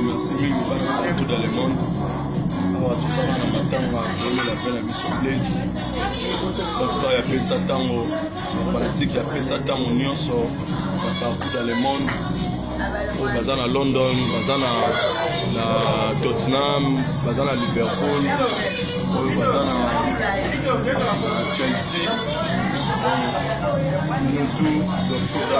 merci mingi bana partout dans le monde awa tozala na matanga kolela mpe na biso place batika ya pesa ntango bafanatike ya pesa ntango nyonso na partout dans le monde oyo baza na london baza na na tottenham baza na liverpool oyo baza na chelsea mutu dofuta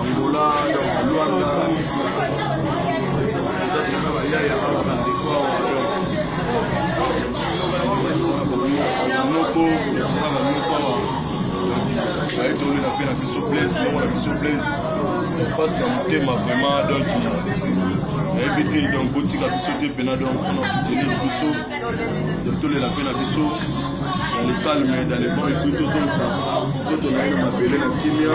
Angola, Luanda, pasi na motema vraiment donc nayebi te donc botika biso te mpena donc mpona soutenir biso donc tolela mpe na biso dans le calme dans le bon ecrit tozongisa nzoto na ye na mabele na kimia